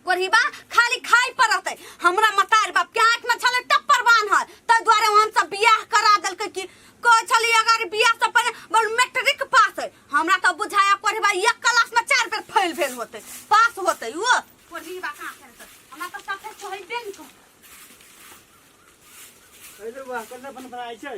कोरहिबा खाली खाइ पर रहतै हमरा मतार बाप के आँख में छले टप्पर बान्हल ताहि दुआरे हम सब बियाह करा देलकै कि कहै छली अगर बियाह से पहिले बड़ मैट्रिक पास है हमरा तो बुझाया कोरहिबा एक क्लास में चार बेर फेल भेल होतै पास होतै ओ कोरहिबा कहाँ करतै हमरा तो सफे कहैबे ने करतै अरे वाह कन्ना फन फन आइ छै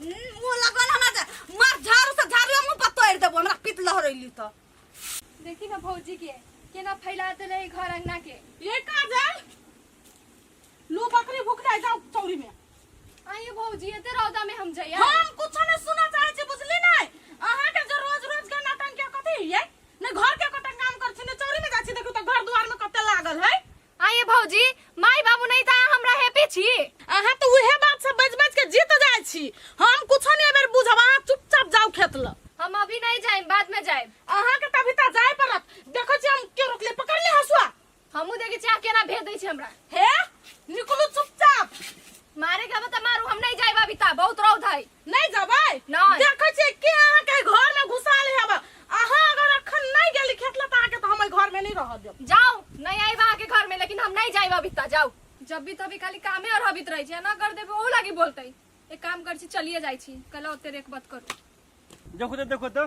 ओ लगल हमरा जे मार झाड़ू से झाड़ू मुंह पर तोड़ देबो हमरा पित लहरैली त देखी ना भौजी के केना फैला देले है घर अंगना के ये का जाय लू बकरी भूख जाय जाओ चौरी में आइए भौजी एते रौदा में हम जइया हम कुछ नहीं सुना चाहे छी बुझली नहीं अहाँ के जो रोज रोज के नाटन के कथी है ने घर के कतन काम कर छी ने चौरी में जाय छी देखू त घर द्वार में कते लागल है आये भौजी माई बाबू नहीं था हमरा हैप्पी छी अहाँ तो उहे बात सब बज बज के जीत जाय छी हम कुछो नहीं बेर बुझब अहाँ चुपचाप जाओ खेत ल हम अभी नहीं जाए बाद में जाए अहाँ के तभी ता जाय पड़त देखो छी हम के रोकले पकड़ ले हसुआ हमू देखे छी आप केना भेज दै छी हमरा हे निकलू चुपचाप मारे के बता मारू हम नहीं जाए अभी ता बहुत रौद है नहीं जबै नहीं। देखै छियै के अहाँ के घर में घुसाल हेब अहाँ अगर अखन नहीं गेली खेत लता के तो हम एहि घर में नहीं रह देब जाओ नहीं आई बा के घर में लेकिन हम नहीं जाइब अभी तक जाओ जब भी तभी खाली कामे और हबित रही छै ना कर देबे ओ लागी बोलते एक काम कर छी चलिए जाई छी कल ओते रेक बात करू देखो तो देखो तो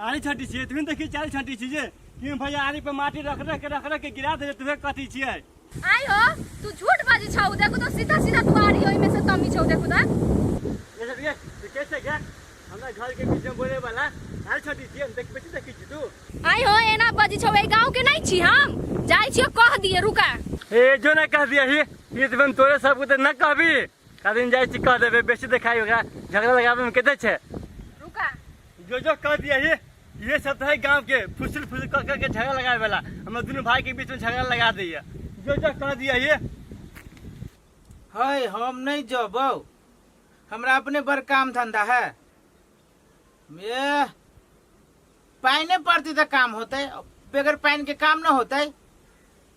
आरी छाँटी छियै तुहे देखी चारी छाँटी छी जे कि भैया आरी पर माटी रख रख के रख रख के गिरा दे तुहे कथी छियै आई हो तू झूठ बाजी छौ देखो तो सीधा सीधा तू आ रही हो इमे से तमी छौ देखो ता ये सब ये तू कैसे गया हमरा घर के बीच में बोले वाला आरी छाँटी छियै हम देख बेटी देखी छी तू आई हो एना बाजी छौ ए गांव के नहीं छी हम जाई छियो कह दिए रुका हे जो ना कह दिया ही ये तो हम तोरे सब को तो ना कहबी कदिन जाइ छी कह देबै बेसी देखाइ ओकरा झगड़ा लगाबैमे कते छै रुका जो जो कह दिया ये ये सब है गांव के फुसिल फुसिल कह कह के झगड़ा लगाए वाला हमरा दुनू भाई के बीच में झगड़ा लगा दैया जो जो कह दिया ये है हम नहीं जबौ हमरा अपने बड़ काम धंधा है ए, पानि पड़ती तो काम होते बगैर पानि के काम न होते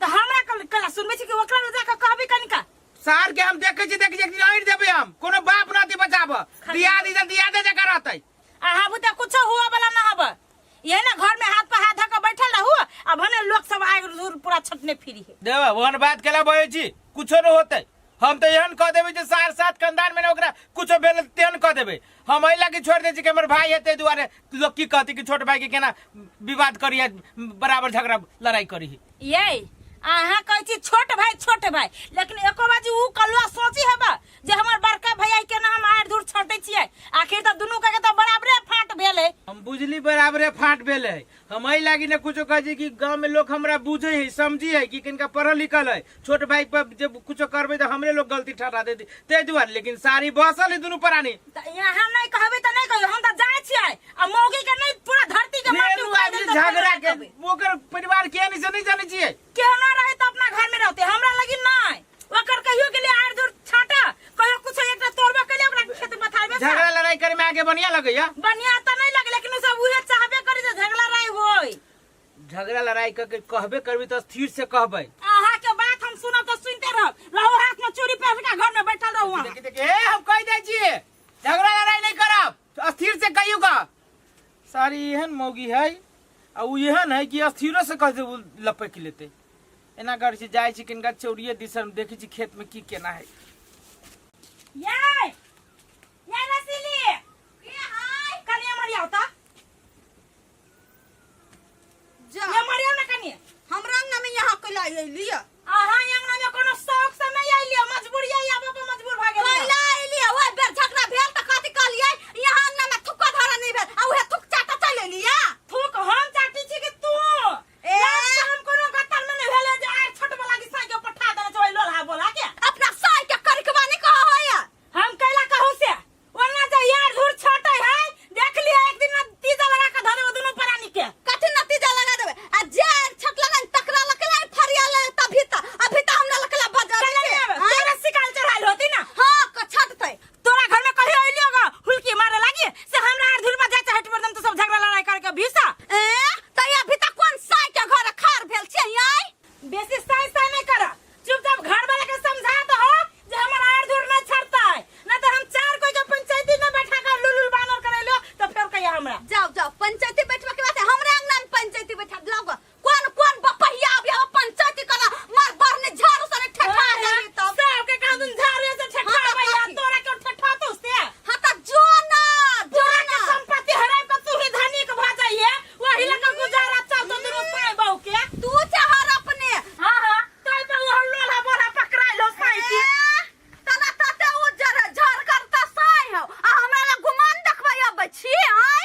तो हमरा कल कला सुनबे छी कि ओकरा ले जाके कहबे कनिका सार के हम देखे छी देखे छी एक दिन अड़ देबे हम कोनो बाप नाती बचाब दिया दी जल्दी याद है जकर रहते अहाँ बुते कुछो हुआ वाला ना हब यही ना घर में हाथ पर हाथ धके बैठल रहू अब भने लोग सब आग दूर पूरा छटने फिरी है देवा ओहन बात केला बहे छी कुछो न होते हम तो एहन कह देबे जे सार साथ कंधान में ना ओकरा कुछो भेल तेहन कह देबे हम एहि लागी छोड़ दे छी कि हमर भाई हेते दुआरे लोग की कहते कि छोट भाई के केना विवाद करी है बराबर झगड़ा लड़ाई करी है ये अहाँ कहै छी छोट भाई छोट भाई लेकिन एको बाजी ऊ कलुआ सोची हेबा जे हमर बड़का भैया के ना हम आर दूर छोटे छियै आखिर तऽ दुनू के तऽ बराबरे फाट भेल है हम बुझली बराबरे फाट भेल है हम एहि लागी ने कुछो कहै छी कि गाँव में लोग हमरा बुझे है समझी है कि किनका पढ़ल लिखल है छोट भाई पर जब कुछो करबे तो हमरे लोग गलती ठहरा देती ते दुआरे लेकिन सारी बसल है दुनू प्राणी त यहाँ नहीं कहबे त नहीं कहबे हम त जाय छियै आ मौगी के नहीं पूरा धरती के माटी मेनू उखाड़ आदमी देतै, झगड़ा नहीं के कहबै। ओकर परिवार के नहीं से नहीं जाने छिए केहना रहे त अपना घर में रहते हमरा लगी नहीं ओकर कहियो के लिए आर दूर छाटा कहियो कुछ एकटा तोड़बा के लिए ओकरा खेत पथार में झगड़ा लड़ाई करे में आगे बढ़िया लगैया बढ़िया त नहीं लगे लेकिन उ सब उहे चाहबे करे जे झगड़ा रहे होई झगड़ा लड़ाई करके कहबे करबी तो स्थिर से कहबै आहा के बात हम सुनब तो सुनते रहब रहो हाथ में चूड़ी पहन के घर में बैठल रहू अहाँ। देखी देखी ए हम कह दै छिए झगड़ा लड़ाई नहीं करब तो स्थिर से कहियो का सारी एहन मौगी है आ उ एहन है कि स्थिरो से कह दे लपक लेते एना करै छी जाइ छी किनका चौरिये दिसन देखै छी खेत में की केना है याय याय रसीली के हाय कनी हमर आओ त जा ये मरियो ना कनी हमरा अंगना में यहाँ के लाई अइली है आहा अंगना में कोनो शौक से नहीं आइली है, मजबूरी आई आबो के मजबूर भ गेल कैला अइली है ओए बेर झगड़ा भेल त कथि कहलियै यहाँ अंगना में थुक्का धरा नहीं भेल आ उहे थुक चाटा चल अइली है थूक हम चाटी छी कि तू ए हम कोनो गत्तर में नहीं भेले जे आए छोट वाला की साइकिल पठा देले छै लोलहा बोला के अपना साय के करकवा नहीं कह होया हम कैला कहू से ओना जे यार धुर छोटे है देख लिया एक दिन में तीजा लगा के धरे ओ दोनों परानी के कथि नतीजा लगा देबे आ जे छटला नहीं तकरा लकला फरिया ले तभी त अभी त हमरा लकला बजा पहले नहीं आवे तोरा शिकाल चढ़ाल होती ना हां क छट थई तोरा घर में कभी अइली होगा हुलकी मारे लागी से हमरा आर धुल पर जाते हट पर दम तो सब झगड़ा लड़ाई करके भीसा ए त या भी त कोन साई के घर खार भेल छै आई बेसी साई साई नहीं करा चुपचाप घर वाला के समझा दो हो जे हमर आर धुल न छड़ता है ना तो हम चार कोई के पंचायती में बैठा कर लुलुल बानर कर लो तो फिर कहिया हमरा जाओ जाओ पंचायती बैठवा के बात है हमरा अंगना में पंचायती बैठा लाओ कोन कोन बपहिया अब यहाँ पंचायती कला मार बार ने झाड़ू सने ठेठा जाई तब सबके कहा तुम झाड़ू से ठेठा भैया तोरा के ठेठा तो से हां त जो ना जो ना संपत्ति हराय के तू ही धनिक भ जाइए वही लगा गुजारा चल तो दिन पाए बहु के तू चाहर अपने हां हां तोय तो वो लोला बोला पकड़ाई लो पाई के तना तते उजर झर करता साय हो आ हमरा ला गुमान देखबै अब छी आय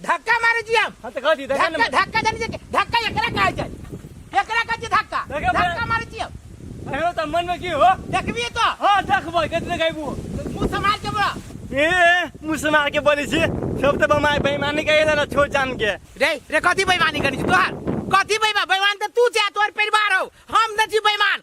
धक्का मारे जी हम हां त कह दी धक्का धक्का धक्का जाने जे धक्का एकरा कहे जाय एकरा कहे जे धक्का धक्का मारे जी हम अरे त मन में की हो देखबी तो हां देखबो कतने गायबू मुंह संभाल के बोला ए मुंह संभाल के बोली छी सब त बमाय बेईमानी कहे ना छोड़ जान के रे रे कथी बेईमानी करी छी तोहार कथी बेईमान बेईमान त तू छे तोहर परिवार हो हम न छी बेईमान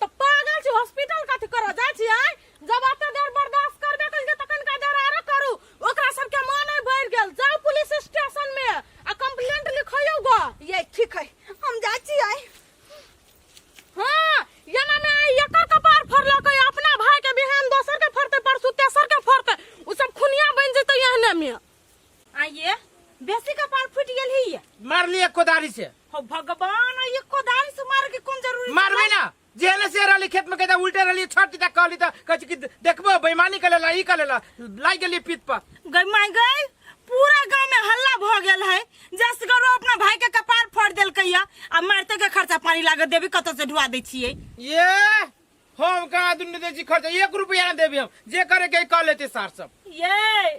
तो पागल छी हॉस्पिटल कथि करऽ जाइ छी आइ जब एते देर बर्दाश्त करबे कइल जे तखन का देर आरो करू ओकरा सबके मन आइ बढ़ि गेल जाउ पुलिस स्टेशन में आ कंप्लेंट लिखैयौ ग ये ठीक है हम जाइ छी आइ हाँ एना में आइ एकर कपार फड़लक अइ, अपना भाई के बिहान दोसर के फड़ते परसू तेसर के फड़ते उ सब खुनिया बनि जेतै एहने में आइए बेसी कपार फूट गेल ही ये। मार लिए कोदारी से हो भगवान ये कोदारी से मार के कौन जरूरी मारबे ना जेहने से रहली खेत में कहता उल्टे रहली छठ तक कहली त कहछ कि देखबो बेईमानी कर लेला ई कर लेला लाग गेली पीत पर गई माय गई पूरा गांव में हल्ला भ गेल है जस करो अपना भाई के कपार फोड़ देल कैया आ मारते के खर्चा पानी लागत देवी कत से ढुआ दे छिए ये हम कहाँ दुनिया दे जी खर्चा एक रुपया ना देबी हम जे करे के कह लेते सार सब ये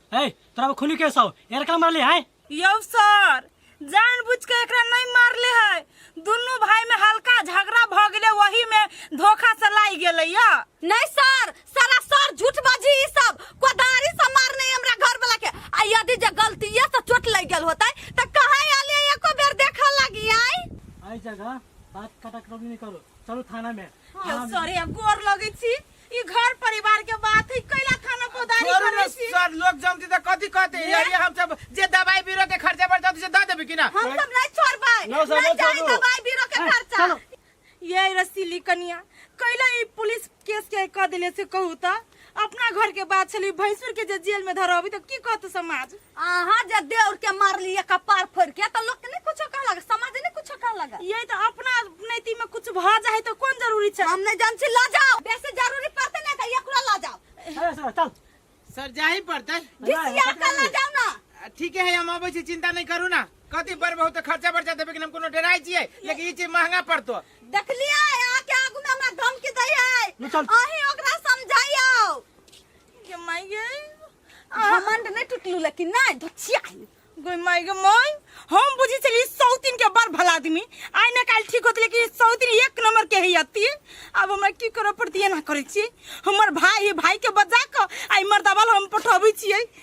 ए तोरा अब खुली कैसा हो यार का मारली है यौ सर जानबूझ के एकरा नहीं मारले है दुनू भाई में हल्का झगड़ा भ गेले वही में धोखा से लाग गेले या नहीं सर सारा सर झूठ बाजी ई सब कोदारी से मारने हमरा घर वाला के आ यदि जे गलतीये से चोट लग गेल होतै त कहां आले एको बेर देखा लगी आई आई जगह बात कटा कटौनी नहीं करो चलो थाना में यौ सर या गोर लगै छी ई घर परिवार के बात है कैला खाना पौधारी छोड़ू ना करे छी सर लोग जमती त कथी कहते हैं? यही हम सब जे दवाई बीरो के खर्चा पर जाते से दे देबे कि ना हम सब नहीं छोड़बै ना सब नहीं जाए छोड़ू। दवाई बीरो के खर्चा ये रसीली कनिया कैला ई पुलिस केस के क देले से कहू त अपना घर के बात छली भैंसुर के जे जेल में धरबी त की कहत समाज अहाँ जे देउर के मारलिए कपार फोड़ के तो लोग के नहीं कुछ कह लगा समाज नहीं कुछ कह लगा ये तो अपना नैती में कुछ भ जाए तो कौन जरूरी छै हम नहीं जान छी ला जाओ बेसी जरूरी पड़ते नहीं तो एकरा ला जाओ अरे सर चल सर जाही पड़तै घिसिया के ला जाओ ना आ, ठीके है हम अबै छी चिंता नहीं करू ना कथी बड़ बहुत खर्चा बर्चा देबै कि हम कोनो डराइ छियै लेकिन ई चीज महंगा पड़तो देखलिए यहाँ के आगू में हमरा धमकी दै है ले चल। अहीं ओकरा समझाइयो ये माय ये घमंड नहीं टूटलू लेकिन नहीं धचिया गोई माई गे माई हम बुझी चली सौतीन के बड़ भला आदमी आइ ने काल ठीक होत लेकिन सौतीन एक नंबर के है अति अब हमरा की करऽ पड़ती ना करै छी हमर भाई है भाई के बजा क आइ मर्दावल हम पठबै छियै